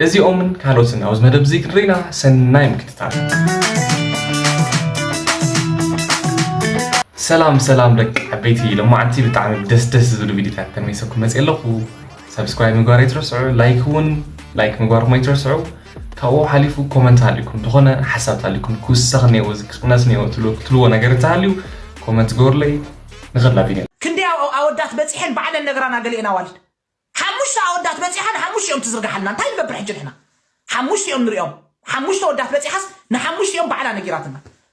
እዚኦምን ካልኦትን ኣብዚ መደብ እዚ ክንርኢና ሰናይ ምክትታል ሰላም ሰላም ደቂ ዓበይቲ ሎማዓንቲ ብጣዕሚ ደስ ደስ ዝብሉ ቪዲዮታት ተመይሰኩም መፅእ ኣለኹ ሰብስክራይብ ምግባር ኣይትረስዑ ላይክ እውን ላይክ ምግባርኩም ኣይትረስዑ ካብኡ ሓሊፉ ኮመንት ሃልዩኩም ዝኾነ ሓሳብ ተሃልዩኩም ክውሰኽ እኒኦ እዚ ክቕነስ እኒኦ ትብሉ ክትልዎ ነገር እንተሃልዩ ኮመንት ግበሩለይ ንኸላ ቪድዮ ክንደይ ኣወዳት በጺሐን ባዕለን ነግራና ገሊኤን ኣዋልድ ሓሙሽተ ኣወዳት በጺሓ ንሓሙሽቲኦም ትዝርግሓልና እንታይ ንገብር ሕጂ ንሕና ሓሙሽቲኦም ንሪኦም ሓሙሽተ ወዳት በጺሓስ ንሓሙሽቲኦም ባዕላ ነጊራትና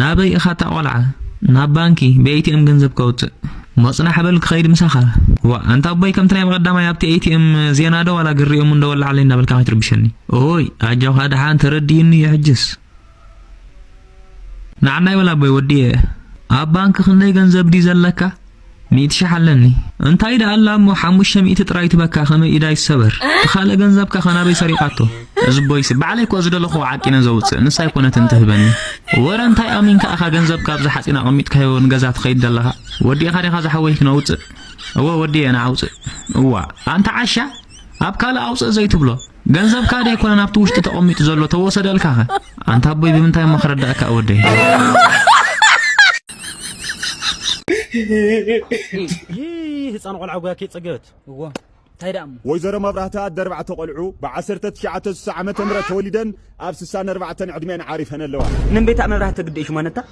ናበይ ኢኻ እታ ቆልዓ ናብ ባንኪ ብኤቲኤም ገንዘብ ከውጽእ መጽናሕ በል ክኸይድ ምሳኻ ዋእ ኣንታ ኣቦይ ከምቲ ናይ መቐዳማይ ኣብቲ ኤቲኤም ዜና ዶ ዋላ ግሪኦም እንዶ ወላዓለይ እናበልካ ከይትርብሸኒ ኦይ ኣጆኻ ድሓን ተረዲኡኒ እዩ ሕጅስ ንዓናይ ወላ ኣቦይ ወዲየ ኣብ ባንኪ ክንደይ ገንዘብ ድዩ ዘለካ ሚእቲ ሽሕ ኣለኒ እንታይ ደኣ ኣላ እሞ ሓሙሽተ ሚእቲ ጥራይ ትበካ ከመይ ኢዳ ይሰበር ትካልእ ገንዘብካ ከ ናበይ ሰሪቃቶ እዝቦይሲ ባዕለይ እኮ ዝደለክዎ ዓቂነ ዘውጽእ ንሳ ኣይኮነትን ትህበኒ ወረ እንታይ ኣሚንካ ኢካ ገንዘብካ ኣብዚ ሓጺን ኣቀሚጥካዮ ንገዛ ትከይድ ዘለካ ወዲእካ ዲካ ዝሓወይ ክነውጽእ እወ ወዲኤ ንዓውጽእ እዋ ኣንታ ዓሻ ኣብ ካልእ ኣውጽእ ዘይትብሎ ገንዘብካ ዶ ኣይኮነን ኣብቲ ውሽጢ ተቐሚጡ ዘሎ ተወሰደልካኸ? ኣንታ ኣቦይ ብምንታይ እሞ ክረዳእካ ወደይ ህፃን ቆልዓ ጉያ ከይፀገበት እዎ እንታይ ደኣ እሞ ወይዘሮ መብራህቲ ኣደ ኣርባዕተ ቆልዑ ብዓሰርተ ትሽዓተ ስሳ ዓመተ ምህረት ተወሊደን ኣብ ስሳን ኣርባዕተን ዕድሚኤን ዓሪፈን ኣለዋ። ንን ቤታ መብራህቲ ግዲ እዩ ሽማነታ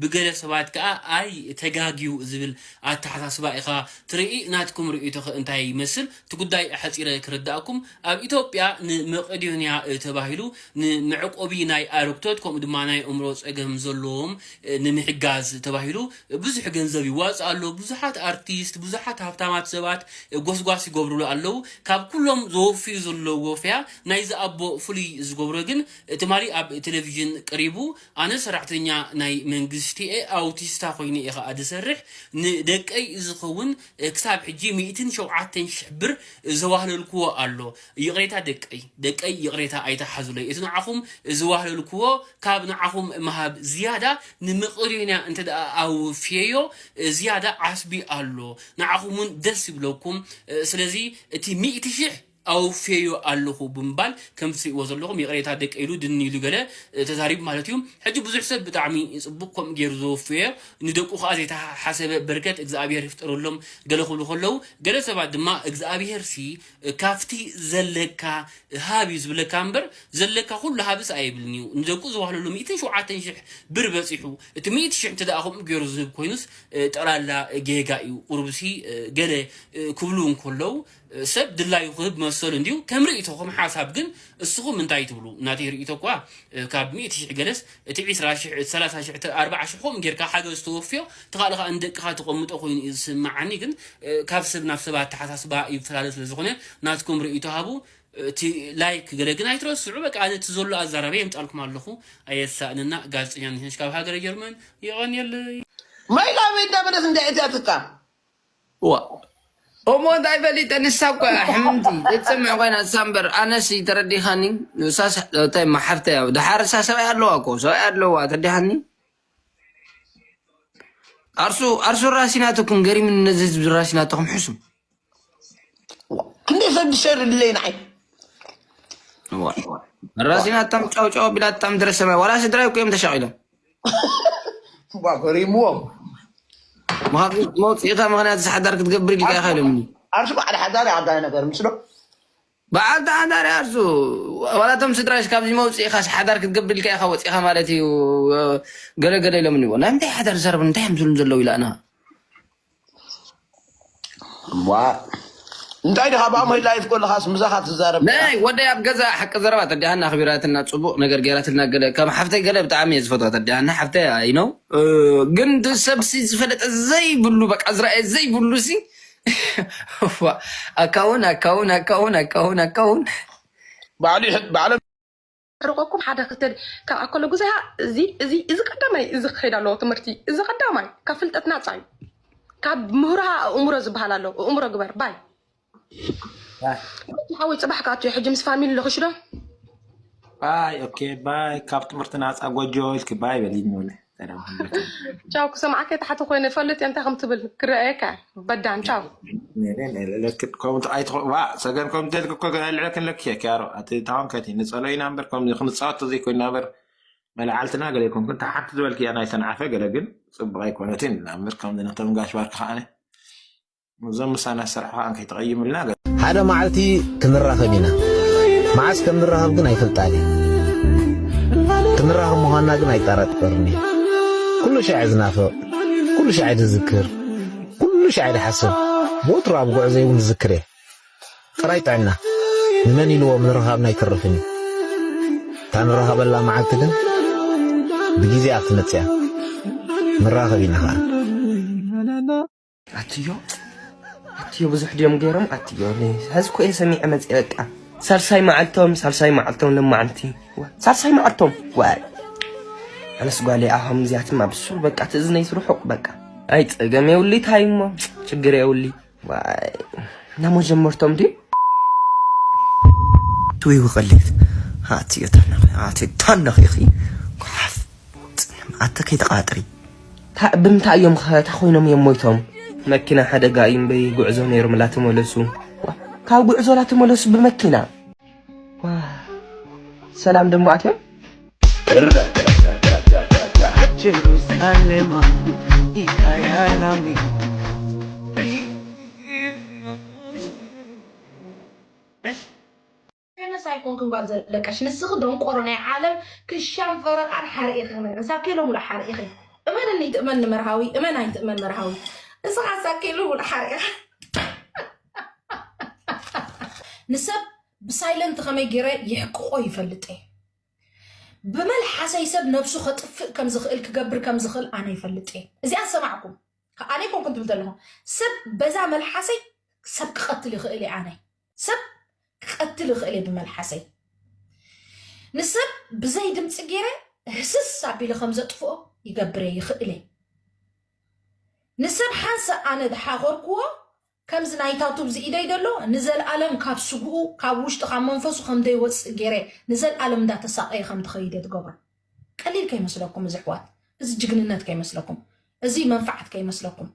ብገለ ሰባት ከኣ ኣይ ተጋግዩ ዝብል ኣተሓሳስባ ኢኻ ትርኢ ናትኩም ርእይቶኸ እንታይ ይመስል? እቲ ጉዳይ ኣሕጺረ ክርዳኣኩም ኣብ ኢትዮጵያ ንመቄዶንያ ተባሂሉ ንመዕቆቢ ናይ ኣረግቶት ከምኡ ድማ ናይ ኣእምሮ ጸገም ዘለዎም ንምሕጋዝ ተባሂሉ ብዙሕ ገንዘብ ይዋጻእ ኣሎ ብዙሓት ኣርቲስት ብዙሓት ሃብታማት ሰባት ጎስጓስ ይገብርሉ ኣለዉ ካብ ኩሎም ዘወፍዩ ዘለዉ ወፈያ ናይዚ ኣቦ ፍሉይ ዝገብሮ ግን ትማሊ ኣብ ቴሌቪዥን ቀሪቡ ኣነ ሰራሕተኛ ናይ መንግስቲ'የ፣ ኣውቲስታ ኮይነ'የ ከኣ ዝሰርሕ፣ ንደቀይ ዝኸውን ክሳብ ሕጂ ሚእትን ሸውዓተን ሽሕ ብር ዘዋህለልኩዎ ኣሎ፣ ይቕሬታ ደቀይ ደቀይ ይቕሬታ ኣይትሓዙለይ፣ እቲ ንዓኹም ዘዋህለልኩዎ ካብ ንዓኹም ምሃብ ዝያዳ ንመቄዶንያ እንተድኣ ኣውፊየዮ ዝያዳ ዓስቢ ኣሎ፣ ንዓኹም'ውን ደስ ይብለኩም፣ ስለዚ እቲ ሚእቲ ሽሕ። ኣውፌዮ ኣለኹ ብምባል ከምቲ ትሪእዎ ዘለኹም ይቕሬታ ደቂ ኢሉ ድኒ ኢሉ ገለ ተዛሪቡ ማለት እዩ ሕጂ ብዙሕ ሰብ ብጣዕሚ ጽቡቕ ከምኡ ገይሩ ዘወፈዮ ንደቁ ከኣ ዘይተሓሰበ በርከት እግዝኣብሄር ይፍጠረሎም ገለ ክብሉ ከለዉ ገለ ሰባት ድማ እግዝኣብሄርሲ ካብቲ ዘለካ ሃብ እዩ ዝብለካ እምበር ዘለካ ኩሉ ሃብስ ኣይብልን እዩ ንደቁ ዝዋህለሉ ሚእትን ሸውዓተን ሽሕ ብር በጺሑ እቲ ሚእቲ ሽሕ እንተ ከምኡ ገይሩ ዝህብ ኮይኑስ ጠቕላላ ጌጋ እዩ ቁሩብሲ ገለ ክብሉ እንከለዉ ሰብ ድላዩ ክህብ መሰሉ እንድዩ ከም ርእይቶ ከም ሓሳብ ግን እስኹም እንታይ ትብሉ ናተይ ርእይቶ እኳ ካብ ሚእቲ ሽሕ ገለስ እቲ ዒስራ ሽሕ እቲ ሰላሳ ሽሕ እቲ ኣርብዓ ሽሕ ከምኡ ጌርካ ሓገዝ ተወፍዮ እቲ ካልእ ከኣ ንደቅኻ ተቀምጦ ኮይኑ እዩ ዝስምዓኒ ግን ካብ ሰብ ናብ ሰብ ኣተሓሳስባ ይፈላለ ስለ ዝኾነ ናትኩም ርእይቶ ሃቡ እቲ ላይክ ገለ ግን ኣይትረስዑ በቃ ኣነ እቲ ዘሎ ኣዛራርየ የምጻልኩም ኣለኹ ኣየሳእነና ጋዜጠኛ ነሽነሽ ካብ ሃገረ ጀርመን የቀንየለይ። ማይ ላበይ እንዳበለት እንድያ እቲኣ ትካ እዋእ እሞ እንታይ ፈሊጠ ንሳ እኮ እያ ሕምምቲ ዘይትሰምዕ ኮይና ንሳ እምበር ኣነስ ተረዲኻኒ ንሳስ እታይ ማሓፍተይ ኣብ ድሓር እሳ ሰብኣይ ኣለዋ እኮ ሰብኣይ ኣለዋ ተረዲኻኒ ኣርሱ ኣርሱ ራሲናተኩም ገሪምኒ ነዚ ህዝቢ ራሲናተኩም ሕሱ ክንደይ ሰብ ድሸር ድለይ ንዓይ ራሲናታም ጫውጫው ቢላታም ድረሰማይ ዋላ ስድራይ እኮ እዮም ተሻቂሎም እባ ገሪምዎም መኻኺን መውፅኢታ ምክንያት እዚ ሓዳር ክትገብር ኢልካ ኢኻ ኢሎምኒ ዓርሱ በዓል ሓዳር እዩ ዓባይ ነገር ምስሎ በዓልቲ ሓዳር እዩ ዓርሱ ዋላቶም ስድራሽ ካብዚ መውፅኢኻስ ሓዳር ክትገብር ኢልካ ኢኻ ወፂኢኻ ማለት እዩ ገለገለ ኢሎምኒ ናይ ምንታይ ሓዳር ዝሰርብ እንታይ እዮም ዝብሉ ዘለዉ ኢላና ዋ እንታይ ድኻ ብኣሞይ ላይፍ ኮለኻስ ምሳኻ ትዛረብ ናይ ነይራ ወደይ ኣብ ገዛ ሓቂ ዘረባ ተዲሃና ኣኽቢራትና ጽቡቕ ነገር ገይራትልና ገለ ከም ሓፍተይ ገለ ብጣዕሚ እየ ዝፈትዋ ተዲሃና ሓፍተይ ኣይ ነው ግን እቲ ሰብሲ ዝፈለጠ ዘይብሉ በቃ ዝረኣየ ዘይብሉ ሲ እዋ፣ ኣካውን ኣካውን ኣካውን ኣካውን ኣካውን ባዕሉ ይሕ- ባዕሎም ርቆኩም ሓደ ክልተ ካብኣ ከሎ ግዜያ እዚ ቀዳማይ እዚ ክኸይድ ኣለዎ ትምህርቲ እዚ ቀዳማይ ካብ ፍልጠት ናፃ እዩ ካብ ምህሮሃ ኣእምሮ ዝበሃል ኣሎ እእምሮ ግበር ባይ ሓወይ ፅባሕ ክኣቱ እዩ ሕጂ ምስ ፋሚሊ ልኽሽዶ ባይ ኦኬ ባይ ካብ ትምህርቲ ናፃ ጎጆ ኢልኪ ባይ በሊ ንብለ ቻው ክሰምዓከ ታሕቲ ኮይነ ፈልጥ እየ እንታይ ከም ትብል ክረኣየካ በዳን ቻው ሰገን ከም ተልክ እኮ ልዕለ ክንለክ እየ ያሮ እቲ ታዋንከቲ ንፀሎ ኢና እምበር ከምዚ ክንፃወት ዘይኮይና እምበር መላዓልትና ገለ ይኮንኩን እታ ሓንቲ ዝበልክ እያ ናይ ሰንዓፈ ገለ ግን ፅቡቅ ኣይኮነትን ኢና እምበር ከምዚ ነቶም ጋሽ ባርክ ከዓነ እዞም ምሳና ዝሰርሑ ከዓ ከይተቐይምልና ገ ሓደ መዓልቲ ክንራኸብ ኢና መዓስ ከም ንራኸብ ግን ኣይፈልጣን እየ ክንራኸብ ምዃንና ግን ኣይጠራጠርን እየ ኩሉ ሻዕ ዝናፍቕ ኩሉ ሻዕ ዝዝክር ኩሉ ሻዕ ዝሓስብ ወትሩ ኣብ ጉዕዘይ እውን ዝዝክር እየ ጥራይ ጥዕና ንመን ኢልዎ ምንርኻብና ኣይተርፍን እዩ እታ ንራኸበላ መዓልቲ ግን ብግዜኣ ክትመጽእ እያ ንራኸብ ኢና ኸኣ ኣትዮ ኣትዮ ብዙሕ ድዮም ገይሮም ኣትዮ ሕዚ ኮ ሰሚዐ መፅአ በቃ ሳልሳይ መዓልቶም ሳልሳይ መዓልቶም ለማዓንቲ ሳልሳይ መዓልቶም ዋይ ኣነስ ጓለይ ኣሆም እዚኣትማ ብሱል በቃ ትእዝነይ ስርሑቕ በቃ ኣይ ፀገም የውሊ ታይ እሞ ችግር የውሊ ዋይ ናመጀመርቶም ድዩ ትውይ ውቐሌት ኣትዮ ታናኺ ኣትዮ ታናኺኺ ጓሓፍ ኣተ ከይተቃጥሪ ታእ ብምንታይ እዮም ከ ታኾይኖም እዮም ሞይቶም። መኪና ሓደጋ እዩ እምበይ ጉዕዞ ነይሮም ላተመለሱ። ካብ ጉዕዞ ላተመለሱ ብመኪና ሰላም ደሞ ኣትዮም Jerusalem, Ikayalami. ከመስ ኣይኮንክን ጋል ዘለቀሽ ንስኪ ደንቆሮ ናይ ዓለም ክሻን ፈረቃን ሓርኢ ከመን ሳኬሎ ሙሉእ ሓርኢ ኢኪ እመንኒ ትእመን ንመርሃዊ እመን ኣይትእመን መርሃዊ ንስካ ሳኬሎ ሙሉእ ሓርኢ ኢካ ንሰብ ብሳይለንት ከመይ ገይረ የሕቅቆ ይፈልጥ እየ ብመልሓሰይ ሰብ ነብሱ ከጥፍእ ከም ዝኽእል ክገብር ከም ዝኽእል ኣነ ይፈልጥ እየ እዚኣ ሰማዕኩም ኣነ ኮንኩም ትብል ዘለኹም ሰብ በዛ መልሓሰይ ሰብ ክቐትል ይኽእል እየ ኣነ ሰብ ክቀትል ይኽእል እየ ብመልሓሰይ ንሰብ ብዘይ ድምፂ ገይረ ህስስ ኣቢለ ከም ዘጥፍኦ ይገብር እየ ይኽእል እየ ንሰብ ሓንሳእ ኣነ ዝሓኾርክዎ ከምዚ ናይታ ቱብ ዝኢደይ ደሎ ንዘልኣለም ካብ ስግኡ ካብ ውሽጢ ካብ መንፈሱ ከም ዘይወፅእ ገይረ ንዘልኣለም እንዳተሳቀየ ከም ዝኸይደ ትገብሮ ቀሊል ከይመስለኩም እዚ ኣሕዋት እዚ ጅግንነት ከይመስለኩም እዚ መንፋዓት ከይመስለኩም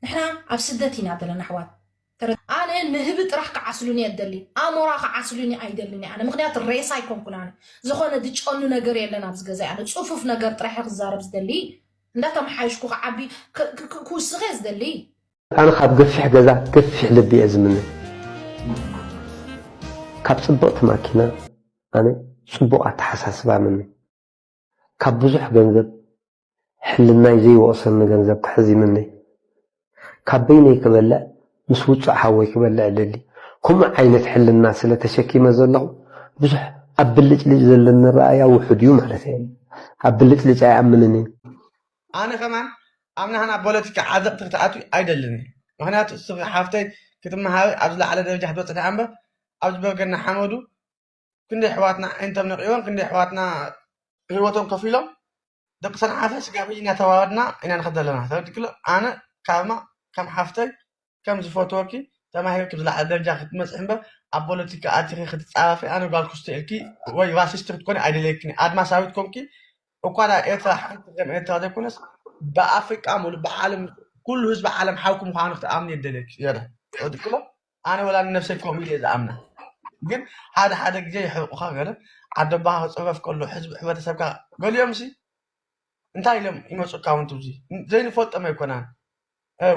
ንሕና ኣብ ስደት ኢና ዘለና ኣሕዋት ኣነ ንህቢ ጥራሕ ክዓስሉኒ እየ ደሊ ኣሞራ ክዓስሉኒ ኣይደልን ኣነ ምክንያት ሬሳ ኣይኮንኩን ኣነ ዝኾነ ድጨኑ ነገር የለን ኣብዚ ገዛ ኣነ ፅፉፍ ነገር ጥራሕ ክዛረብ ዝደሊ እንዳተመሓየሽኩ ክዓቢ ክውስኽ እየ ዝደሊ ኣነ ካብ ገፊሕ ገዛ ገፊሕ ልቢ እየ ዝምነ ካብ ፅብቕቲ ማኪና ኣነ ፅቡቕ ኣተሓሳስባ ምነ ካብ ብዙሕ ገንዘብ ሕልናይ ዘይወቕሰኒ ገንዘብ ክሕዝ ይምነይ። ካብ በይነይ ክበልዕ ምስ ውጹዕ ሓወይ ክበልዕ እደሊ። ከምኡ ዓይነት ሕልና ስለ ተሸኪመ ዘለኹ ብዙሕ ኣብ ብልጭልጭ ዘለኒ ኣረኣእያ ውሑድ እዩ ማለተይ ኣይኮነን። ኣብ ብልጭልጭ ኣይኣምንን እየ። ኣነ ከማን ኣብ ናህና ፖለቲካ ዓዘቕቲ ክትኣትዊ ኣይደልን እየ። ምኽንያቱ እስኺ ሓፍተይ ክትመሃሪ ኣብ ዝለዓለ ደረጃ ክትበጽሒ እምበር ኣብዚ በርገና ሓመዱ ክንደይ ኣሕዋትና ኣዒንቶም ነቒቦም ክንደይ ኣሕዋትና ህይወቶም ከፊሎም ደቂ ሰንዓፈ ስጋብ ሕጂ እናተዋሃድና ኢና ንኸድ ዘለና ተረድክሎ ኣነ ካብማ ከም ሓፍተይ ከም ዝፈትወኪ ተማሂር ክብ ዝለዓለ ደረጃ ክትመፅሒ እምበር ኣብ ፖለቲካ ኣቲኺ ክትፃረፊ ኣነ ጓል ክስቶ ኢልኪ ወይ ራሲስት ክትኮኒ ኣይደለየክን እየ። ኣድማሳዊት ኮንኪ እኳ ናብ ኤርትራ ሓንቲ ከም ኤርትራ ዘይኮነስ ብኣፍሪቃ ሙሉ ብዓለም ኩሉ ህዝቢ ዓለም ሓውኪ ምዃኑ ክትኣምኒ የደለየኪ የረ ተረድክሎ ኣነ ወላ ንነብሰይ ከምኡ ኢለየ ዝኣምና ግን ሓደ ሓደ ግዜ የሕርቁካ ገለ ዓደቦካ ክጽፈፍ ከሎ ሕዝቢ ሕብረተሰብካ ገሊኦምሲ እንታይ ኢሎም ይመጹካ ውን ትብዚ ዘይንፈልጦም ኣይኮናን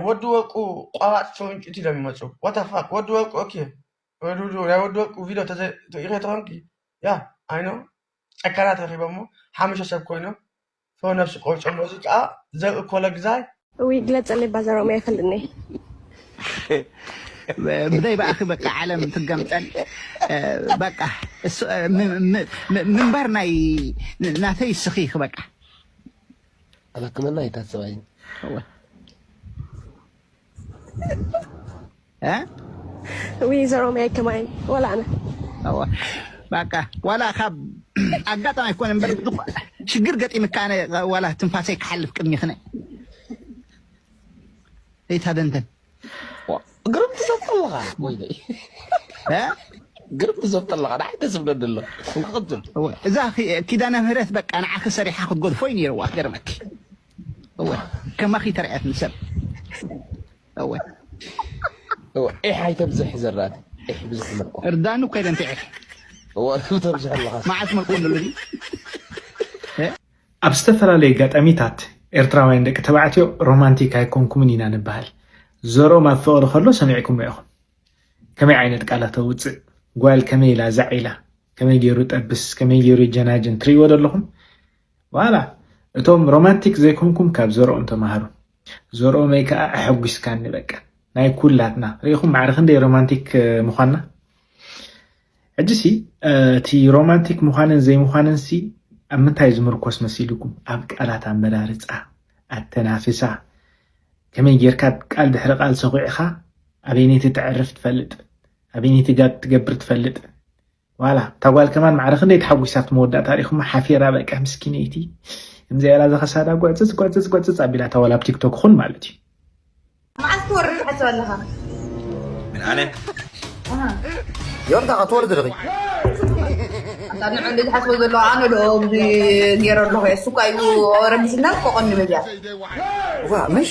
ወዲ ወርቁ ቆራጽ ጭውንጭት ኢሎም ይመጹ ወተፋክ ወዲ ወርቁ ኦኬ ዱዱ ናይ ወዲ ወርቁ ቪድዮ ተዘይ ተኾንኪ ያ ኣይኖ ጨካናት ረኺቦሞ ሓሙሽተ ሰብ ኮይኖም ሰው ነፍስ ቆርጦ ሙዚቃ ዘርኢ ኮለግዛይ እውይ ግለፀለይ ባዛ ሮሚ ኣይፈልጥኒ ብዘይ በኣኺ በቃ ዓለም ትገምጠል በቃ እሱ- ም- ም- ም- ምንባር ናይ ናተይ እስኺ ኢኺ በቃ ኣብ ሕክምና ኣይታሰባይን እወ ወይዘሮ ማይ ከማይ ዋላ ኣነ ባቃ ዋላ ካብ ኣጋጣሚ ኣይኮነ እምበር ሽግር ገጢምካ ኣነ ዋላ ትንፋሰይ ክሓልፍ ቅድሚ ክነ ዘይታደንተን ግርም ትዘብ ኣለኻ ወይ ግርም ትዘብ ኣለኻ ንዓይ ደስ ብለኒ ኣሎ እዛ ኪዳነ ምህረት በቃ ንዓኺ ሰሪሓ ክትጎድፎ እዩ ነይርዋ ክገርመኪ እወ ከማኺ ተርዕያት ንሰብ እወ እወ ዒሕ ኣይተብዝሕ ዘራእቲ ዒሕ ብዙሕ ምልቆ እርዳኑ ከይደ እንተ ዒሕ እወ ተብዝሕ ኣለኻ መዓት ምልቆ ንሉ ኣብ ዝተፈላለየ ኣጋጣሚታት ኤርትራውያን ደቂ ተባዕትዮ ሮማንቲክ ኣይኮንኩምን ኢና ንበሃል። ዘርኦም ኣብ ፍቕሪ ከሎ ሰሚዕኩሞ ኢኹም። ከመይ ዓይነት ቃላት ኣውጽእ፣ ጓል ከመይ ኢላ ዛዕ ኢላ፣ ከመይ ገይሩ ጠብስ፣ ከመይ ገይሩ ይጀናጅን ትርእይዎ ዶ ኣለኹም? ዋላ እቶም ሮማንቲክ ዘይኮንኩም ካብ ዘርኦም ተማሃሩ ዘርኦመይ ከኣ ኣሐጒስካኒ በቃ ናይ ኩላትና ርኢኹም ማዕረ ክንደይ ሮማንቲክ ምዃንና ሕጂሲ እቲ ሮማንቲክ ምዃንን ዘይምዃንንሲ ኣብ ምንታይ ዝምርኮስ መሲልኩም ኣብ ቃላት ኣመራርፃ ኣተናፍሳ ከመይ ጌርካ ቃል ድሕሪ ቃል ሰኺዕኻ ኣበይነይቲ ተዕርፍ ትፈልጥ ኣበይነይቲ ጋብ ትገብር ትፈልጥ ዋላ እታ ጓል ከማን ማዕረ ክንደይ ተሓጒሳ ኣብቲ መወዳእታ ሪኹማ ሓፊራ በቃ ምስኪነይቲ እምዚኣ ኢላ ዘኸሳዳ ጉዕጽጽ ጉዕጽጽ ጉዕጽጽ ኣቢላታ ዋላ ኣብ ቲክቶክ ኹን ማለት እዩ መዓስ ትወርድ ትሓስብ ኣለኻ ምን ኣነ ዮርታ ክትወርድ ርኺ ኣታ ንዕንዲ ዝሓስቦ ዘሎ ኣነ ዶ እዚ ገይረ ኣለኹ እየ እሱ እኳ እዩ ረቢስና ኮቐኒ መዚያ ዋ ምሽ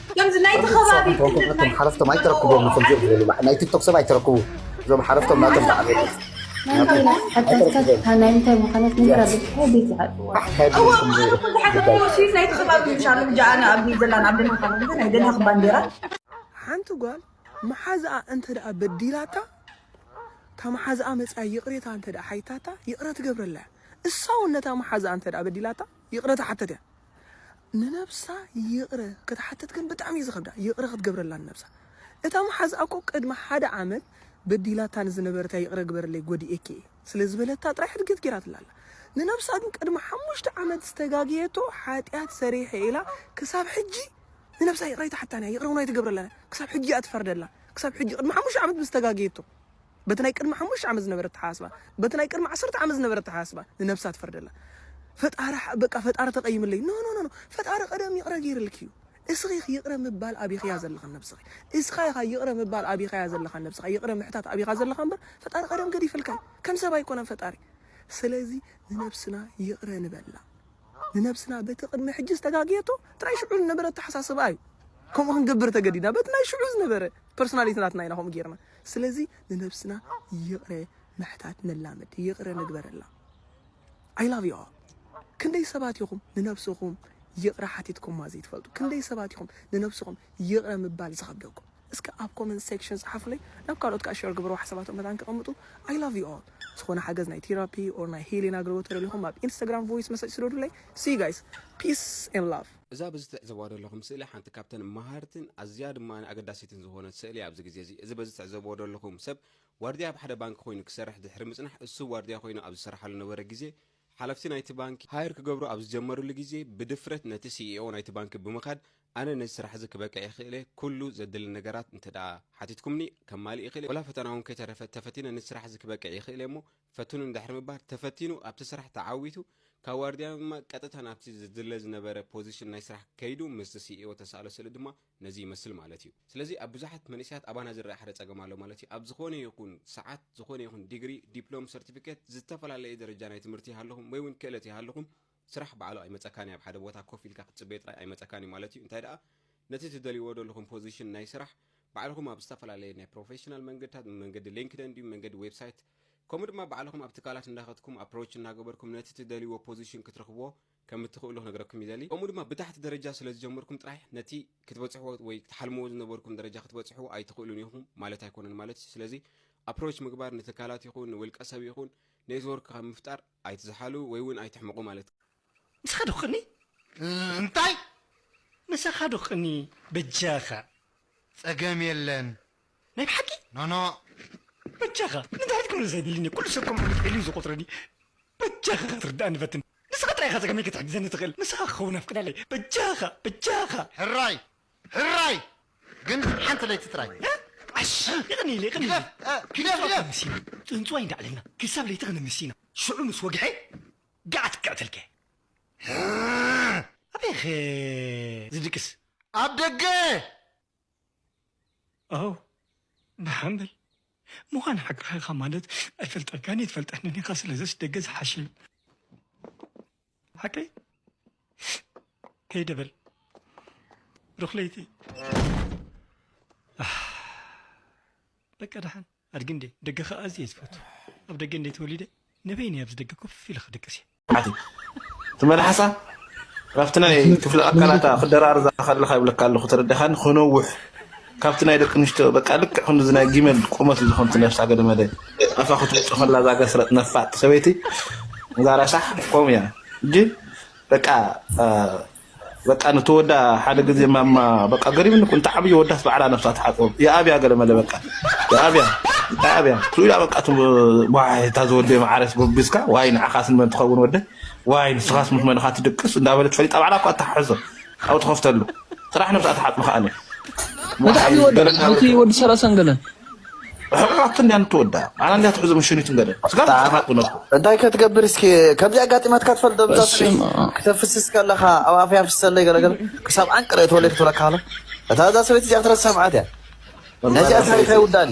ከምዚ ናይቲ ከባቢ እቶም ሓረፍቶም ኣይተረክቦም ኹም ዝበሉ ናይ ቲክቶክ ሰብ ኣይተረክቡ እዞም ሓረፍቶም ናቶም ተዓበዩ ሓንቲ ጓል መሓዝኣ እንተ ደኣ በዲላታ እታ መሓዝኣ መጽኣ ይቕሬታ እንተ ደኣ ሓይታታ ይቕረ ትገብረላ እያ እሳ እውን ነታ መሓዝኣ እንተ ደኣ በዲላታ ይቕረታ ሓተት እያ ንነብሳ ይቕረ ክትሓትት ግን ብጣዕሚ እዩ ዝኸብዳ ይቕረ ክትገብረላ ንነብሳ እታ መሓዝኣ እኮ ቅድሚ ሓደ ዓመት በዲላታ ንዝነበረት እያ ይቕረ ግበርለይ ጎዲኤኪ እየ ስለ ዝበለታ ጥራይ ሕድገት ጌራትላ ኣላ ንነብሳ ግን ቅድሚ ሓሙሽተ ዓመት ዝተጋገየቶ ሓጢኣት ሰሪሐ እየ ኢላ ክሳብ ሕጂ ንነብሳ ይቕረ ኣይትሓታን እያ ይቕረ እውን ኣይትገብረላን እያ ክሳብ ሕጂ እያ ትፈርደላ ክሳብ ሕጂ ቅድሚ ሓሙሽተ ዓመት ምስ ተጋገየቶ በቲ ናይ ቅድሚ ሓሙሽተ ዓመት ዝነበረ ኣተሓሳስባ በቲ ናይ ቅድሚ ዓሰርተ ዓመት ዝነበረ ኣተሓሳስባ ንነብሳ ትፈርደላ ፈጣሪ በቃ ፈጣሪ ተቐይምለይ ኖ ኖ ኖ ፈጣሪ ቀደም ይቕረ ገይርልኪ እዩ እስኺ ይቕረ ምባል ኣቢኽያ ዘለኻ ነብስኺ እስኻ ኢኻ ይቕረ ምባል ኣቢኻያ ዘለኻ ነብስኻ ይቕረ ምሕታት ኣቢኻ ዘለኻ እምበር ፈጣሪ ቀደም ገዲፈልካ ከም ሰብ ኣይኮነን ፈጣሪ ስለዚ ንነብስና ይቕረ ንበላ ንነብስና በቲ ቅድሚ ሕጂ ዝተጋግየቶ እቲ ናይ ሽዑ ዝነበረ ኣተሓሳስባ እዩ ከምኡ ክንገብር ተገዲድና በቲ ናይ ሽዑ ዝነበረ ፐርሶናሊቲ ናትና ኢና ከምኡ ገይርና ስለዚ ንነብስና ይቕረ ምሕታት ነላምድ፣ ይቕረ ንግበረላ። ኣይ ላቭ ዩ ኦል። ክንደይ ሰባት ኢኹም ንነብስኹም ይቕረ ሓቲትኩማ ዘይትፈልጡ? ክንደይ ሰባት ኢኹም ንነብስኹም ይቕረ ምባል ዝኸብደኩም? እስከ ኣብ ኮመንት ሴክሽን ጽሓፉለይ፣ ናብ ካልኦት ከኣ ሸር ግበርዎ ሓሳባቶም መታን ከቐምጡ። ኣይ ላቭ ዩ ኦል። ዝኾነ ሓገዝ ናይ ቴራፒ ኦር ናይ ሂሊን ኣገልግሎት ተደሊኹም ኣብ ኢንስታግራም ቮይስ መሰጅ ስደዱለይ። ሲ ዩ ጋይስ ፒስ ኤንድ ላቭ። እዛ በዚ ትዕዘብዋ ዘለኹም ስእሊ ሓንቲ ካብተን መሃርትን ኣዝያ ድማ ኣገዳሲትን ዝኾነት ስእሊ እያ ኣብዚ ግዜ እዚ። እዚ በዚ ትዕዘብዎ ዘለኹም ሰብ ዋርድያ ኣብ ሓደ ባንኪ ኮይኑ ክሰርሕ ድሕሪ ምጽናሕ እሱ ዋርድያ ኮይኑ ኣብ ዝሰርሓሉ ነበረ ግዜ ሓለፍቲ ናይቲ ባንኪ ሃየር ክገብሩ ኣብ ዝጀመርሉ ግዜ ብድፍረት ነቲ ሲኢኦ ናይቲ ባንኪ ብምኻድ ኣነ ነዚ ስራሕ እዚ ክበቅዕ ይኽእለ ኩሉ ዘድሊ ነገራት እንተድኣ ሓቲትኩምኒ ከማልእ ይኽእለ ወላ ፈተና እውን ከይተረፈ ተፈቲነ ነዚ ስራሕ እዚ ክበቅዕ ይኽእለ እሞ ፈትኑ ድሕሪ ምባል፣ ተፈቲኑ ኣብቲ ስራሕ ተዓዊቱ ካብ ዋርድያ ድማ ቀጥታ ናብቲ ዝድለ ዝነበረ ፖዚሽን ናይ ስራሕ ከይዱ ምስቲ ሲኢኦ ተሳእሎ ስእሊ ድማ ነዚ ይመስል ማለት እዩ። ስለዚ ኣብ ብዙሓት መንእሰያት ኣባና ዝረኣ ሓደ ጸገም ኣሎ ማለት እዩ። ኣብ ዝኾነ ይኹን ሰዓት፣ ዝኾነ ይኹን ዲግሪ፣ ዲፕሎም፣ ሰርቲፊኬት፣ ዝተፈላለየ ደረጃ ናይ ትምህርቲ ይሃልኹም ወይ'ውን ክእለት ይሃልኹም፣ ስራሕ ባዕሉ ኣይመጸካን እዩ ኣብ ሓደ ቦታ ኮፍ ኢልካ ክትጽበዮ ጥራይ ኣይመጸካን እዩ ማለት እዩ እንታይ ደኣ ነቲ ትደልይዎ ደለኹም ፖዚሽን ናይ ስራሕ ባዕልኹም ኣብ ዝተፈላለየ ናይ ፕሮፌሽናል መንገድታት ብመንገዲ ሊንክደን ድዩ መንገዲ ዌብሳይት ከምኡ ድማ ባዕልኹም ኣብ ትካላት እንዳኸትኩም ኣፕሮች እናገበርኩም ነቲ ትደልይዎ ፖዚሽን ክትረኽብዎ ከም እትኽእሉ ክነግረኩም ይደሊ ከምኡ ድማ ብታሕቲ ደረጃ ስለ ዝጀመርኩም ጥራሕ ነቲ ክትበጽሕዎ ወይ ክትሓልምዎ ዝነበርኩም ደረጃ ክትበጽሕዎ ኣይትኽእሉን ኢኹም ማለት ኣይኮነን ማለት እዩ ስለዚ ኣፕሮች ምግባር ንትካላት ይኹን ንውልቀ ሰብ ይኹን ኔትወርክ ካብ ምፍጣር ኣይትዝሓሉ ወይ ውን ኣይትሕመቑ ማለት። ምሳኻ ዶ ክቕኒ? እንታይ? ምሳኻ ዶ ክቕኒ በጃኻ? ጸገም የለን። ናይ ብሓቂ? ኖኖ። በጃኻ ንድሕሪት ክምለስ ኣይደልን እየ፣ ኩሉ ሰብ ከም ዕቡድ ዒሉ እዩ ዝቖጽረኒ። በጃኻ ክትርድኣኒ ፈትን። ንስኻ ጥራይ ኢኻ ጸገመይ ክትሕግዘኒ ትኽእል፣ ንስኻ ክኸውን ኣፍቅደለይ። በጃኻ! በጃኻ! ሕራይ! ህራይ ግን ሓንቲ ለይቲ ጥራይ። ዓሽ የቕንየለይ የቕንየለይ ግደፍ እ ግደፍ ጥንጹዋይ ግደፍ። ክንምስ ኢና ጥንጹዋይ እንዳ ዕለልና ክሳብ ለይቲ ክንምስ ኢና ሽዑ ምስ ወግሐ ገዓት ክቅዕተልካ እየ። ኣበይኸ ዝድቅስ? ኣብ ደገ! ኣው ደሓን በል ምዃን ሓቅኻ ኢኻ ማለት ኣይፈልጠካን እየ ትፈልጠኒ ኢኻ ስለዘስ ደገ ዝሓሸ እዩ። ሓቀይ ከይደበል ሩክለይቲ በቃ ደሓን ኣድጊ እንዴ ደገ ከዓ ኣዝየ እየ ዝፈቱ ኣብ ደገ እንዴ ተወሊደ ንበይነ ኣብዚ ደገ ኮፍ ኢለ ክድቅስ እየ ሓቲ እቲ መልሓሳ ናብቲ ናይ ክፍሊ ኣካላታ ክደራርዛ ከለካ ይብለካ ኣለኹ ተረዲኻኒ ክነውሕ ካብቲ ናይ ደቂ ኣንስትዮ በቃ ልክዕ ክንድዚ ናይ ጊመል ቁመት እዩ ዝኾን ነብሳ ገለመለ ኣፋ ክትውፅ ከላ እዛ ገስረጥ ነፋጥ ሰበይቲ እዛ ረሳሕ ከምኡ እያ እጂ በቃ በቃ ንተወዳ ሓደ ግዜ ማማ በቃ ገሪምኒ እኮ እንታይ ዓብዪ ወዳስ ባዕላ ነብሳ ትሓፅቦ የኣብያ ገለመለ በቃ የኣብያ የኣብያ ትብላ በቃ ዋይ እታ ዝወደይ መዓረስ ጎቢዝካ ዋይ ንዓኻስ ንመን ትኸውን ወደይ ዋይ ንስኻስ ምስ መን ኢኻ ትድቅስ እንዳበለት ፈሊጣ ባዕላ እኳ እተሓሕዞ ካብኡ ትኸፍተሉ ጥራሕ ነብሳ ትሓጽብ ከኣኒ ወሓይ ገለ ሓንቲ ወዲ ሰላሳን ገለን ሕቁቃት እንዲያ ንትወዳ ኣና እንዲያ ትሕዙ ምሽኒትን ገለ ስጋ ትሓጥቡ ነብኩ እንታይ ከትገብር እስኪ ከምዚ ኣጋጢማትካ ትፈልጥ ዶብዛ ክተፍስስ ከለኻ ኣብ ኣፍያ ፍሰለይ ገለገለ ክሳብ ዓንቅረ ተወለይ ክትብለካ ሃሎ እታ እዛ ሰበይቲ እዚኣ ክትረስ ሰምዓት እያ ነዚኣ ታሪኻ ይውዳኒ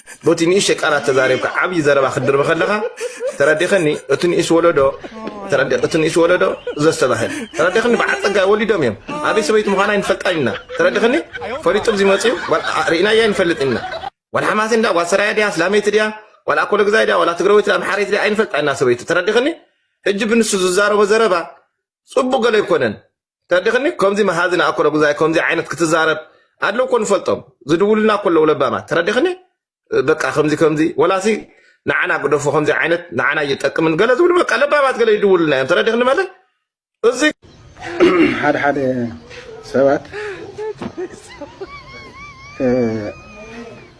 ቦቲ ንእሽተይ ቃላት ተዛሪብካ ዓብይ ዘረባ ክትድርቢ ከለኻ ተረዲኸኒ እቲ ንእስ ወለዶ እቲ ንእስ ወለዶ ዘስተባህል ተረዲኸኒ በዓል ፀጋይ ወሊዶም እዮም ኣበይ ሰበይቲ ምዃና ይንፈልጣ ኢና ተረዲኸኒ ፈሊጡ ብዚ መፅኡ ርኢናያ ይንፈልጥ ኢና ዋላ ሓማሴ እንዳ ጓል ሰራያ ድያ ስላመይቲ ድያ ዋላ ኣኮሎ ግዛይ ድያ ዋላ ትግራወይቲ ድያ ኣምሓረይቲ ድያ ኣይንፈልጣ ኢና ሰበይቱ ተረዲኸኒ ሕጂ ብንሱ ዝዛረቦ ዘረባ ፅቡቅ ገለ ኣይኮነን ተድኽኒ ከምዚ መሃዚ ንኣኮሎ ጉዛይ ከምዚ ዓይነት ክትዛረብ ኣለው እኮ ንፈልጦም ዝድውሉና እኮ ኣለው ለባማት ተረዲኽኒ በቃ ከምዚ ከምዚ ወላሲ ንዓና ግደፎ ከምዚ ዓይነት ንዓና እየጠቅምን ገለ ዝብሉ በቃ ለባማት ገለ ይድውሉና እዮም ተረዲኽኒ መለ እዚ ሓደ ሓደ ሰባት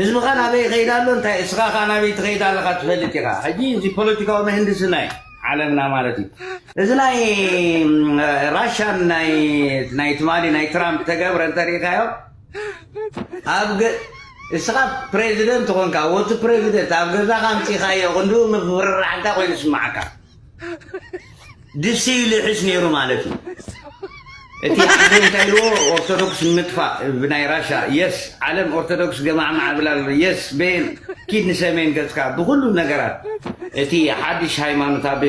ህዝብኻ ናበይ ይኸይድ ኣሎ እንታይ እስኻ ከኣ ናበይ ትኸይድ ኣለኻ ትፈልጥ ኢኻ ሕጂ እዚ ፖለቲካዊ ምህንድስና እዩ ዓለምና ማለት እዩ እዚ ናይ ራሻን ናይ ትማሊ ናይ ትራምፕ ተገብረ እንተሪኢኻዮ ኣብ እስኻ ፕሬዚደንት ኾንካ ወቲ ፕሬዚደንት ኣብ ገዛኻ ኣምፂኻዮ ክንድኡ ምፍርራሕ እንታይ ኮይኑ ስማዓካ ድስቲ ይልሕስ ነይሩ ማለት እዩ እቲ ሓደ እንታይ ኢልዎ ኦርቶዶክስ ንምጥፋእ ብናይ ራሻ የስ ዓለም ኦርቶዶክስ ገማዕማዕ ብላ ኣሎ የስ ቤል ኪድ ንሰሜን ገጽካ ብኩሉ ነገራት እቲ ሓድሽ ሃይማኖት ኣብ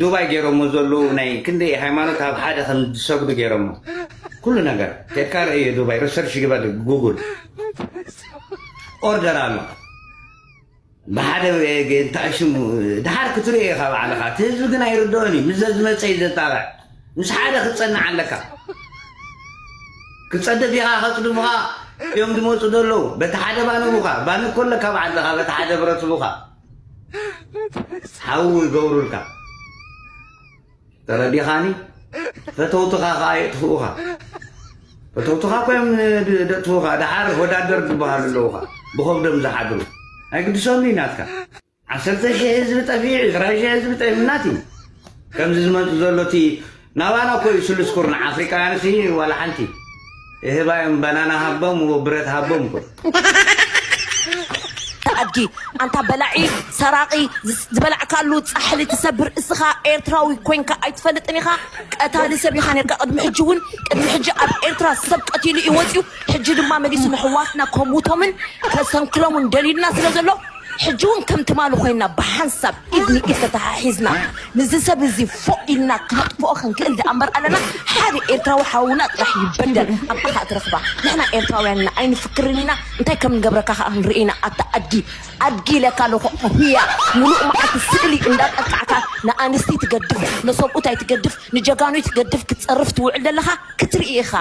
ዱባይ ገይሮሞ ዘለዉ ናይ ክንደይ ሃይማኖት ኣብ ሓደ ከም ዝሰግዱ ገይሮሞ ኩሉ ነገር ኬድካ ርእዮ ዱባይ ሪሰርች ግበር ጉጉል ኦርደር ኣሎ ብሓደ እንታይ ሽሙ ድሓር ክትሪኦ ኢኻ ባዕልኻ እቲ ህዝቢ ግን ኣይርድኦን እዩ ምስ ዘዝመፀ እዩ ዘጣበዕ ምስ ሓደ ክትፀንዕ ኣለካ ክትፀድፍ ኢኻ ከፅድፉኻ እዮም ዝመፁ ዘለዉ በቲ ሓደ ባንቡኻ ባን እኮ ኣለካ ባዓልትኻ በቲ ሓደ ብረትቡኻ ሓዊ ይገብሩልካ ተረዲኻኒ? ፈተውትኻ ከኣ የጥፍኡኻ። ፈተውትኻ እኮ እዮም ደጥፍኡኻ። ደሓር ወዳደር ዝበሃሉ ኣለዉኻ ብኸብዶም ዝሓድሩ ኣይግድሶም እዩ ናትካ ዓሰርተ ሽሕ ህዝቢ ጠፊዑ ዕስራ ሽሕ ህዝቢ ጠፊናት እዩ ከምዚ ዝመፅ ዘሎ እቲ ናባና እኮ እዩ ስሉስ ኩርናዕ ኣፍሪቃውያን ሲ ዋላ ሓንቲ እህባዮም በናና ሃቦም ው ብረት ሃቦም እኮ ኣድጊ ኣንታ በላዒ ሰራቂ ዝበላዕካሉ ፃሕሊ ትሰብር እስኻ ኤርትራዊ ኮንካ ኣይትፈልጥን ኢኻ ቀታሊ ሰብ ኢኻ ነርካ ቅድሚ ሕጂ እውን ቅድሚ ሕጂ ኣብ ኤርትራ ሰብ ቀቲሉ እዩ ወፅዩ ሕጂ ድማ መሊሱ ንሕዋትና ከሙቶምን ከሰንክሎምን ደልዩና ስለ ዘሎ ሕጂ እውን ከም ትማሉ ኮይና ብሓንሳብ ኢድ ንኢድ ተተሓሒዝና ንዚ ሰብ እዚ ፎእ ኢልና ክነጥፍኦ ክንክእል ደኣ እምበር ኣለና ሓደ ኤርትራዊ ሓውና ጥራሕ ይበደል ኣብኣ ከኣ ትረኽባ ንሕና ኤርትራውያን ኢና ኣይንፍክርን ኢና እንታይ ከም ንገብረካ ከኣ ክንርኢ ኢና ኣታ ኣድጊ ኣድጊ ኢለካ ኣለኹ ኣህያ ሙሉእ መዓልቲ ስእሊ እንዳጠቃዕካ ንኣንስቲ ትገድፍ ነሰብኡት ኣይትገድፍ ንጀጋኑ ኣይትገድፍ ክትጸርፍ ትውዕል ዘለኻ ክትርኢ ኢኻ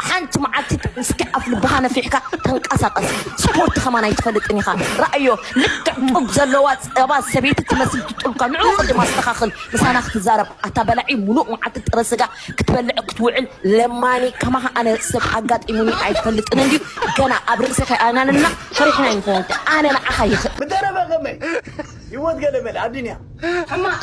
ሓንቲ መዓልቲ እስኪ ኣፍ ልብኻ ነፊሕካ ተንቀሳቀስ ስፖርት ከማን ኣይትፈልጥን ኢኻ ረኣዮ ልክዕ ጡብ ዘለዋ ጸባ ሰበይቲ ትመስል ትጡብካ ንዑ ቅድም ኣስተኻኽል ምሳና ክትዛረብ ኣታ በላዒ ሙሉእ መዓልቲ ጥረ ስጋ ክትበልዕ ክትውዕል ለማኒ ከማኻ ኣነ ሰብ ኣጋጢሙኒ ኣይፈልጥን እንድዩ ገና ኣብ ርእሲ ከይኣናነና ፈሪሕና ኣይንኾን ኣነ ንዓኻ ይኽእል ምደረበ ከመይ ሂወት ገለመለ ኣዱንያ ሕማቅ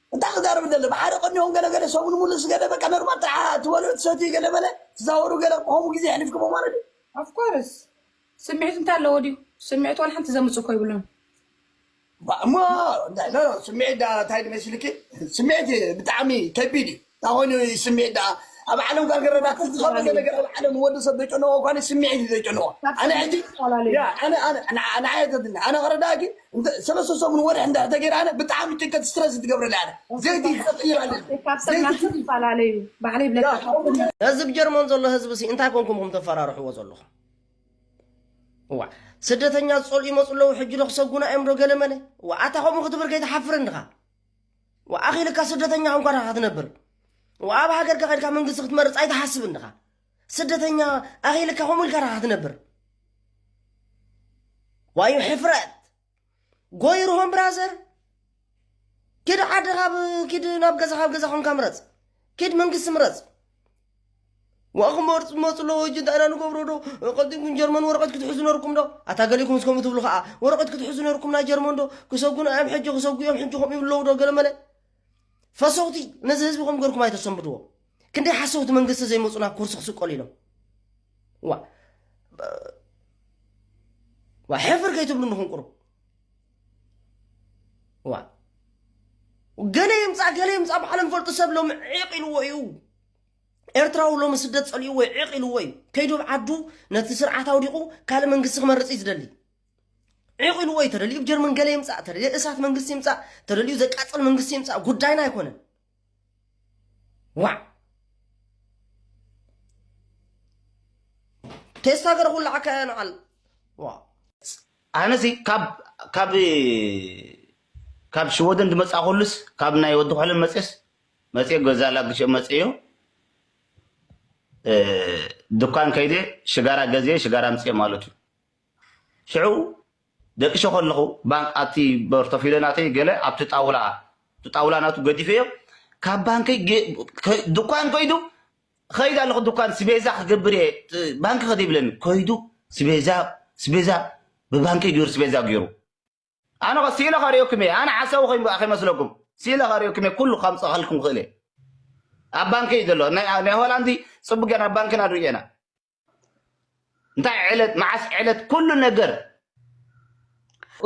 እንታይ ክዛረብ ደለ ብሓደ ቀኒኦም ገለ ገለ ሰሙን ሙሉእ ስገደ በቃ ኖርማል ጥራሕ ትበልዑ ትሰትዩ ገለ በለ ትዛወሩ ገለ ከምኡ ግዜ የሕሊፍክሞ ማለት እዩ ኣፍኮርስ ስምዒት እንታይ ኣለዎ ድዩ ስምዒት ዋላ ሓንቲ ዘምፅ እኮ ይብሉን እሞ ስምዒት እንታይ መስልኪ ስምዒት ብጣዕሚ ከቢድ እዩ ታይ ኮይኑ እዩ ስሚዒት ዳኣ ኣብ ዓለም ኳ ገረዳ እቲ ዝከበደ ነገር ኣብ ዓለም ወዲ ሰብ ዘጨነቆ ኳ ስሚዒት እዩ ዘጨነቆ ኣነ ሕጂ ንዓይ ዘትኒ ኣነ ክረዳእኪ ሰለስተ ሰሙን ወርሒ እንድሕር ተገይረ ኣነ ብጣዕሚ ጭንቀት ስትረስ እዩ ትገብረለይ ኣነ ዘይቲ ክቅይር ኣለኒ ካብ ሰብ ናብ ሰብ ይፈላለ እዩ ባዕለይ ብለካ ህዝብ ጀርመን ዘሎ ህዝብ ሲ እንታይ ኮንኩም ኩም ተፈራርሕዎ ዘለኹም እዋ ስደተኛ ዝጸልኡ ይመጹ ኣለዉ ሕጂ ዶ ክሰጉና እዮም ዶ ገለመለ እዋ ኣታ ከምኡ ክትብል ከይትሓፍር እንድኻ ወኣኺልካ ስደተኛ ኮንካ ዲኻ ክትነብር ወኣብ ሃገርካ ከድካ መንግስቲ ክትመርፅ ኣይትሓስብን ዲኻ ስደተኛ ኣኺልካ ከምኡ ኢልካ ዲኻ ክትነብር ዋዩ ሕፍረት ጎይርሆም ብራዘር ኪድ ዓድኻ ኪድ ናብ ገዛኻ ኣብ ገዛ ኮንካ ምረፅ ኪድ መንግስቲ ምረፅ ዋክመር ፅመፅ ኣለዎ እጅ እንታይ ኢና ንገብሮ ዶ ቀዲምኩም ጀርመን ወረቐት ክትሕዙ ነርኩም ዶ ኣታ ገሊኹም እስከምኡ ትብሉ ከዓ ወረቐት ክትሕዙ ነርኩም ናይ ጀርመን ዶ ክሰጉና እዮም ሕጂ ክሰጉ እዮም ሕጂ ከምኡ ይብለዉ ዶ ገለ መለ ፈሰውቲ ነዚ ህዝቢ ከም ገርኩም ኣይተሰንብድዎ ክንደይ ሓሰውቲ መንግስቲ ዘይመፁና ኩርሲ ክስቀሉ ኢሎም ዋ ዋ ሕፍር ከይትብሉ ንክንቁሩ ዋ ገለ ይምፃእ ገለ ይምፃእ ባዕሎም ፈልጡ ሰብ ሎም ዒቕ ኢልዎ እዩ ኤርትራዊ ሎሚ ስደት ጸሊእዎ እዩ ዕቕ ኢልዎ እዩ ከይዱ ኣብ ዓዱ ነቲ ስርዓት ኣውዲቑ ካልእ መንግስቲ ክመርጽ እዩ ዝደሊ ዒቕ ኢልዎ እዩ ተደልዩ ጀርመን ገለ ይምፃእ ተደልዩ እሳት መንግስቲ ይምፃእ ተደልዩ ዘቃፅል መንግስቲ ይምፃእ ጉዳይና ኣይኮነን ዋዕ ቴስታ ገረ ኩሉ ዓካ ንዓል ኣነዚ ካብ ካብ ካብ ሽወደን ዝመፃእኩሉስ ካብ ናይ ወዲ ኮለን መፅስ መፅየ ገዛ ላግሸ መፅዮ ድኳን ከይደ ሽጋራ ገዝየ ሽጋራ ኣምፅየ ማለት እዩ ሽዑ ደቅሸ ከለኹ ባንክ ኣብቲ በርቶፊለ ናተይ ገለ ኣብቲ ጣውላ እቲ ጣውላ ናቱ ገዲፈዮ ካብ ባንከይ ድኳን ከይዱ ከይድ ኣለኹ ድኳን ስቤዛ ክገብር እየ ባንኪ ከደ ይብለኒ ከይዱ ስቤዛ ስቤዛ ብባንከይ ገይሩ ስቤዛ ገይሩ ኣነኸ ሲኢለ ከርእየኩም እየ ኣነ ሓሳዊ ኮይንኩ ከይመስለኩም ሲኢለ ከርእየኩም እየ ኩሉ ከምፀኸልኩም ክእል እየ ኣብ ባንኪ እዩ ዘሎ ናይ ሆላንድ ፅቡቅ ገና ኣብ ባንኪና ንርእየና እንታይ ዕለት መዓስ ዕለት ኩሉ ነገር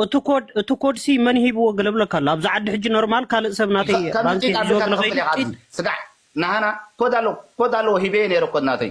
እቲ ኮድ እቲ ኮድ ሲ መን ሂብዎ ገለብለካ ኣሎ ኣብዚ ዓዲ ሕጂ ኖርማል ካልእ ሰብ ናተይ ባንኪ ዞግ ንኸይድ ስጋዕ ናሃና ኮድ ኣለዎ ኮድ ኣለዎ ሂበየ ነይረ ኮድ ናተይ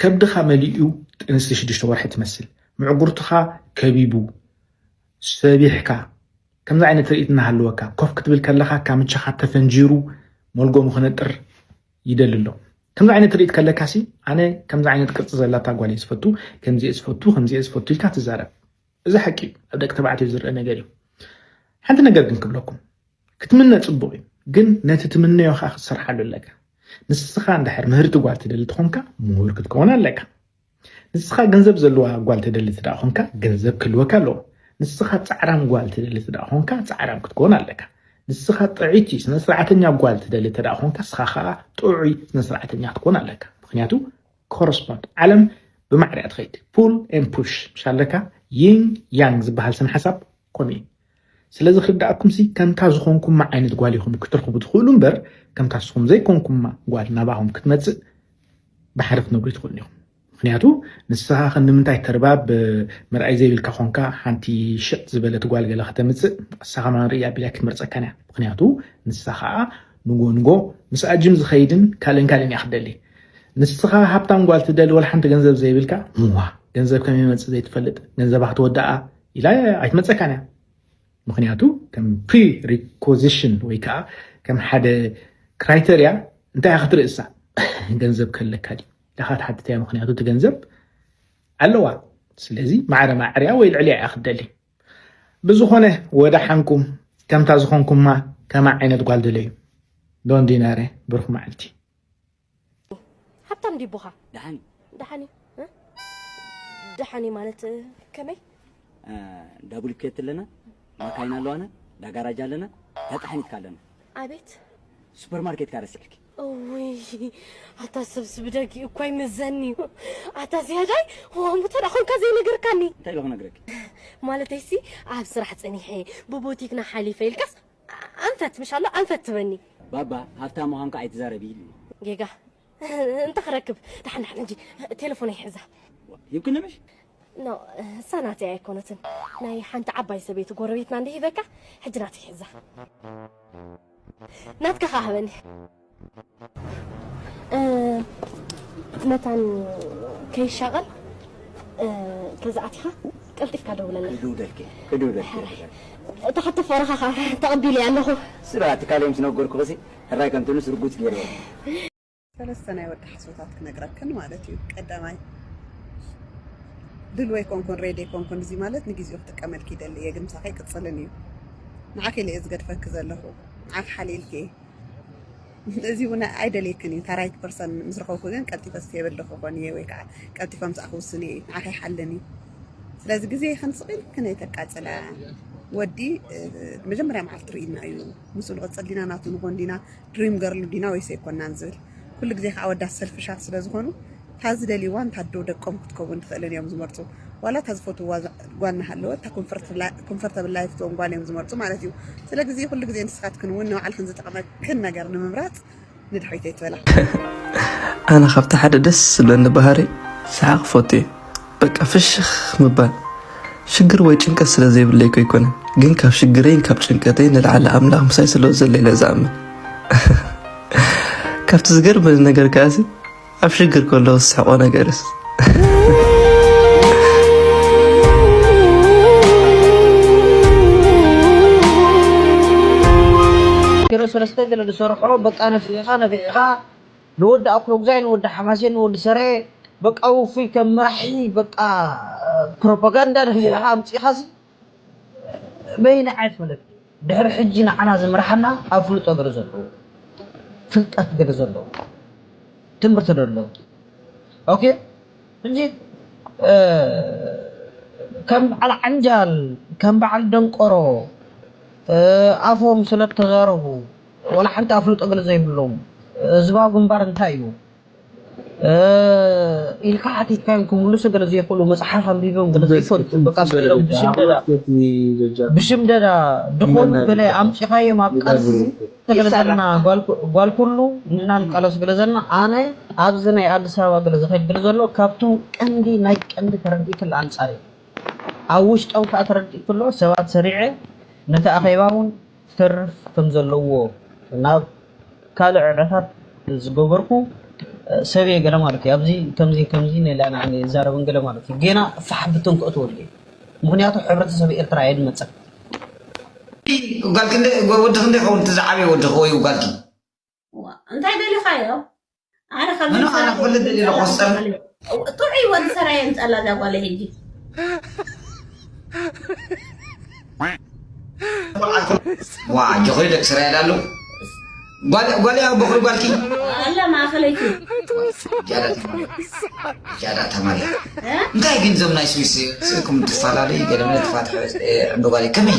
ከብድኻ መሊኡ ጥንሲ ሽዱሽተ ወርሒ ትመስል ምዕጉርትኻ ከቢቡ ሰቢሕካ ከምዚ ዓይነት ትርኢት እናሃለወካ ኮፍ ክትብል ከለኻ ካምቻኻ ተፈንጂሩ ሞልጎሙ ክነጥር ይደሊ ኣሎ ከምዚ ዓይነት ትርኢት ከለካ ሲ ኣነ ከምዚ ዓይነት ቅርፂ ዘላታ ጓል እየ ዝፈቱ ከምዚ እየ ዝፈቱ ከምዚ እየ ዝፈቱ ኢልካ ትዛረብ እዚ ሓቂ እዩ ኣብ ደቂ ተባዕትዮ ዝርአ ነገር እዩ ሓንቲ ነገር ግን ክብለኩም ክትምነ ጽቡቅ እዩ ግን ነቲ ትምነዮ ከኣ ክትሰርሓሉ ኣለካ ንስካ እንድሕር ምህርቲ ጓል ትደሊ ተኮንካ ምሁር ክትከውን ኣለካ ንስካ ገንዘብ ዘለዋ ጓል ትደሊ ትደኣ ኮንካ ገንዘብ ክህልወካ ኣለዎ ንስካ ጻዕራም ጓል ትደሊ ትደኣ ኮንካ ጻዕራም ክትከውን ኣለካ ንስካ ጥዕይቲ ስነስርዓተኛ ጓል ትደሊ ተደኣ ኮንካ ንስካ ከኣ ጥዑይ ስነስርዓተኛ ክትኮን ኣለካ ምክንያቱ ኮረስፖንድ ዓለም ብማዕሪያ ትኸይድ ፑል ኤን ፑሽ ምስ ኣለካ ይንግ ያንግ ዝበሃል ስነ ሓሳብ ከምኡ እዩ ስለ ዝክዳእኩምሲ ከምታ ዝኮንኩማ ዓይነት ጓል ኢኩም ክትረክቡ ትክእሉ እምበር ከምታ ንስኩም ዘይኮንኩማ ጓል ናባኩም ክትመጽእ ባሕሪ ክትነብሩ ኣይትክእሉን ኢኩም ምክንያቱ ንስካ ከ ንምንታይ ተርባብ ምርኣይ ዘይብልካ ኮንካ ሓንቲ ሽቅ ዝበለት ጓል ገለ ከተምጽእ ንሳ ከማን ርእያ ቢላ ክትመርጸካን እያ ምክንያቱ ንሳ ከዓ ንጎ ንጎ ምስ ኣጅም ዝከይድን ካልእን ካልእን እያ ክትደሊ ንስኻ ሃብታም ጓል ትደሊ ወላ ሓንቲ ገንዘብ ዘይብልካ ምዋ ገንዘብ ከመይ መጽእ ዘይትፈልጥ ገንዘባ ክትወድኣ ኢላ ኣይትመፀካን እያ ምክንያቱ ከም ፕሪ ሪኮዚሽን ወይ ከዓ ከም ሓደ ክራይተርያ እንታይ እያ ክትርእሳ ገንዘብ ከለካ ድዩ ኢላካ ትሓትት እያ ምክንያቱ እቲ ገንዘብ ኣለዋ ስለዚ ማዕረ ማዕርያ ወይ ልዕልያ እያ ክትደሊ ብዝኾነ ወዳሓንኩም ከምታ ዝኾንኩማ ከማ ዓይነት ጓል ደለዩ ዶንዲናረ ብሩክ መዓልቲ ሃብታም ድዩ ኣቦኻ? ደሓን እዩ። ደሓን እዩ እ? ደሓን እዩ ማለት እ፣ ከመይ? እ፣ እንዳ ቡልኬት ኣለና፣ ማካይን ኣለዋና፣ እንዳ ጋራጅ ኣለና፣ እንዳ ጣሕኒት ከ ኣለና። ኣቤት ሱፐር ማርኬት ከ ረሲዕኪ? እውይ ኣታ ሰብስ ብደጊኡ እኳ ይምዘኒ እዩ ኣታ ዝያዳይ ከምኡ ተደኣ ኮንካ ዘይነገርካኒ እንታይ ኢለ ክነግረኪ? ማለተይሲ ኣብ ስራሕ ጸኒሐ ብቡቲክና ሓሊፈ ኢልካስ ኣንፈት ምሽ ኣሎ ኣንፈት ትበኒ። ባባ ሃፍታም ምዃንካ ኣይትዛረቢ ኢሉኒ። ጌጋ እንተ ክረክብ ደሓን ደሓን ሕጂ ቴለፎነይ ይሕዛ። ሂብክኒ ምሽ? ኖእ እሳ ናተይ ኣይኮነትን ናይ ሓንቲ ዓባይ ሰበይቲ ጎረቤትና እንድሂበካ ሕጂ ናተይ ሕዛ። ናትካ ከኣ ሃበኒ። መታን ከይሻቐል ተዝኣቲኻ ቀልጢፍካ ደውለለይ ክድውለልኪ ክድውለልኪ እታ ሕቶ ፍቕርኻ ከዓ ተቐቢለ እያ ኣለኹ ስራ ትካለይ ምስ ነገርኩ ኸሲ ሕራይ ከምቲ ንስ ርጉፅ ገይርዎ ሰለስተ ናይ ወዲ ሓሶታት ክነግረክን ማለት እዩ ቀዳማይ ድልወ ኣይኮንኩን ሬድ ኣይኮንኩን እዚ ማለት ንግዜኡ ክጥቀመልኪ ይደሊ እየ ግን ምሳኸ ይቅፅልን እዩ ንዓኺ ኢለ እየ ዝገድፈኪ ዘለኹ ንዓኺ ሓሊልኪ እየ እዚ እውን ኣይደልየክን እዩ። እታ ራይት ፐርሰን ምስ ረኸብኩ ግን ቀልጢፈ ዝስየበለኹ ክኾን እየ ወይ ከዓ ቀልጢፈ ምስኣ ክውስን እየ ንዓኺ ይሓልን እዩ። ስለዚ ግዜ ይኽን ስቂል ክነይ ተቃፅላ ወዲ መጀመርያ መዓልቲ ርኢና እዩ ምስ ንቕፅል ዲና ናቱ ንኾን ዲና ድሪም ገርሉ ዲና ወይስ ኣይኮናን ዝብል ኩሉ ግዜ ከዓ ወዳት ሰልፍሻት ስለዝኾኑ እታ ዝደልይዋን እታ ኣዶ ደቆም ክትከውን ትኽእልን እዮም ዝመርጹ። ዋላ እታ ዝፈትውዋ ጓል እናሃለወት እታ ኮንፈርተብል ላይፍ እትህቦም ጓል እዮም ዝመርጹ ማለት እዩ። ስለግዚ ኩሉ ግዜ ንስኻትክን እውን ንባዕልኽን ዝጠቕመክን ነገር ንምምራጽ ንድሕሪት ኣይትበላ። ኣነ ካብቲ ሓደ ደስ ዝብለኒ ባህሪ ሰሓቕ ፎቱ እየ በቃ ፍሽኽ ምባል ሽግር ወይ ጭንቀት ስለ ዘይብለይ እኮ ኣይኮነን ግን ካብ ሽግረይን ካብ ጭንቀተይ ንላዕሊ ኣምላኽ ምሳይ ስለ ዘሎ ኢለ ዝኣምን ካብቲ ዝገርመኒ ነገር ከኣሲ ኣብ ሽግር ከሎ ዝስሕቆ ነገርስ ኪሮ ሰለስተ ገለ ዝሰርሖ በቃ ነፊሕኻ ነፊሕኻ ንወዲ ኣክሎጉዛይ ንወዲ ሓማሴን ንወዲ ሰረ በቃ ውፉይ ከም መራሒ በቃ ፕሮፓጋንዳ ነፊሕኻ ኣምጺእኻሲ በይነይ ኣይፈልጥን ድሕሪ ሕጂ ንዓና ዝምርሓና ኣፍልጦ ገለ ዘለዎ ፍልጠት ገለ ዘለዎ ትምህርቲ ደሎ ኦኬ እንጂ ከም በዓል ዓንጃል ከም በዓል ደንቆሮ ኣፎም ስለተዛረቡ ዋላ ሓንቲ ኣፍልጦ ገለ ዘይብሎም ህዝባዊ ግንባር እንታይ እዩ ኢልካ ሓቲትካዮም ክምልሱ ገለ ዘይክእሉ መፅሓፍ ኣንቢቦም ገለ ዘይፈልጡ በቃ ስኢሎም ብሽምደዳ ብሽምደዳ ድኾኑ ገለ ኣምፂኻዮም ኣብ ቃልሲ ገለ ዘለና ጓል ኩሉ ንሕና ንቃለሱ ገለ ዘለና ኣነ ኣብዚ ናይ ኣዲስ ኣበባ ገለ ዝኸይድ ገለ ዘሎ ካብቶም ቀንዲ ናይ ቀንዲ ተረዲእክል ኣንፃር እዩ ኣብ ውሽጦም ከዓ ተረዲእክሎ ሰባት ሰሪዐ ነቲ ኣኼባ እውን ዝተርፍ ከም ዘለዎ ናብ ካልእ ዕዕታት ዝገበርኩ ሰብ እየ ገለ ማለት እዩ ኣብዚ ከምዚ ከምዚ ነላ ንዓኒ እዛረብን ገለ ማለት እዩ ጌና ፋሕ ብትን ክእትወሉ እዩ ምክንያቱ ሕብረተሰብ ኤርትራ የድመጸን ጓልኪ ወዲ ክንደይ ይኸውን እቲ ዝዓበየ ወድኺ ወይ ጓልኪ? ዋእ እንታይ ደሊኻዮ ኣነ ካብ ምንም ኣነ ክፍልጥ ደሊ ኣለኹ ዝፀልእ ጥዑይ ወዲ ሰራየ ምፀላ እዛ ጓለ ሕጂ ዋ ጆኸሪ ደቂ ስራየ ዳሉ ጓልያ በኹሪ ጓልኪ ኣላ ማእኸለይቲ ጃዳ ተማልያ እንታይ ግን ዞም ናይ ስዊስ ስእኩም ትፈላለዩ ገለመለ ትፋትሐ ዕምበ ጓልይ ከመይ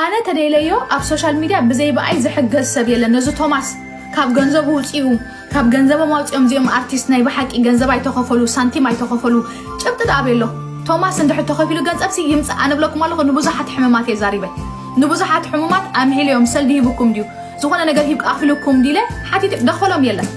ኣነ ተደይለዮ ኣብ ሶሻል ሚድያ ብዘይ ብኣይ ዝሕገዝ ሰብ የለን ነዚ ቶማስ ካብ ገንዘቡ ውፅኡ ካብ ገንዘቦም ኣውፅኦም እዚኦም ኣርቲስት ናይ ብሓቂ ገንዘብ ኣይተኸፈሉ ሳንቲም ኣይተኸፈሉ ጭብጢ ዳኣ ቤሎ ቶማስ እንድሕር ተኸፊሉ ገንዘብሲ ይምፅእ ኣነ ብለኩም ኣለኹ ንብዙሓት ሕሙማት እየ ዛሪበ ንብዙሓት ሕሙማት ኣምሒለዮም ሰልዲ ሂብኩም ድዩ ዝኾነ ነገር ሂብ ኣኽልኩም ዲለ ሓቲት ደኸሎም የለን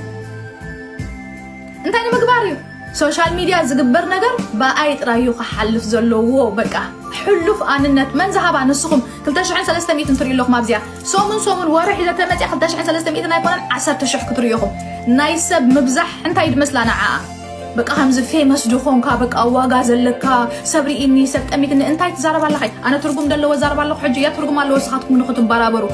እንታይ ንምግባር እዩ ሶሻል ሚድያ ዝግበር ነገር ብኣይ ጥራይ እዩ ክሓልፍ ዘለዎ በቃ ሕሉፍ ኣንነት መን ዝሃባ ንስኹም ክልተ ሽሕን ሰለስተ ሚእትን ትሪኡ ኣለኹም ኣብዚኣ ሰሙን ሰሙን ወርሒ ዘተመፅያ ክልተ ሽሕን ሰለስተ ሚእትን ኣይኮነን ዓሰርተ ሽሕ ክትሪኡ ኢኹም ናይ ሰብ ምብዛሕ እንታይ ድመስላ ንዓኣ በቃ ከምዚ ፌመስ ድኾንካ በቃ ዋጋ ዘለካ ሰብ ርኢኒ ሰብ ጠሚትኒ እንታይ ትዛረብ ኣለኻ ኣነ ትርጉም ደለዎ ዛረብ ኣለኹ ሕጂ እያ ትርጉም ኣለዎ ንስኻትኩም ንኽትበራበሩ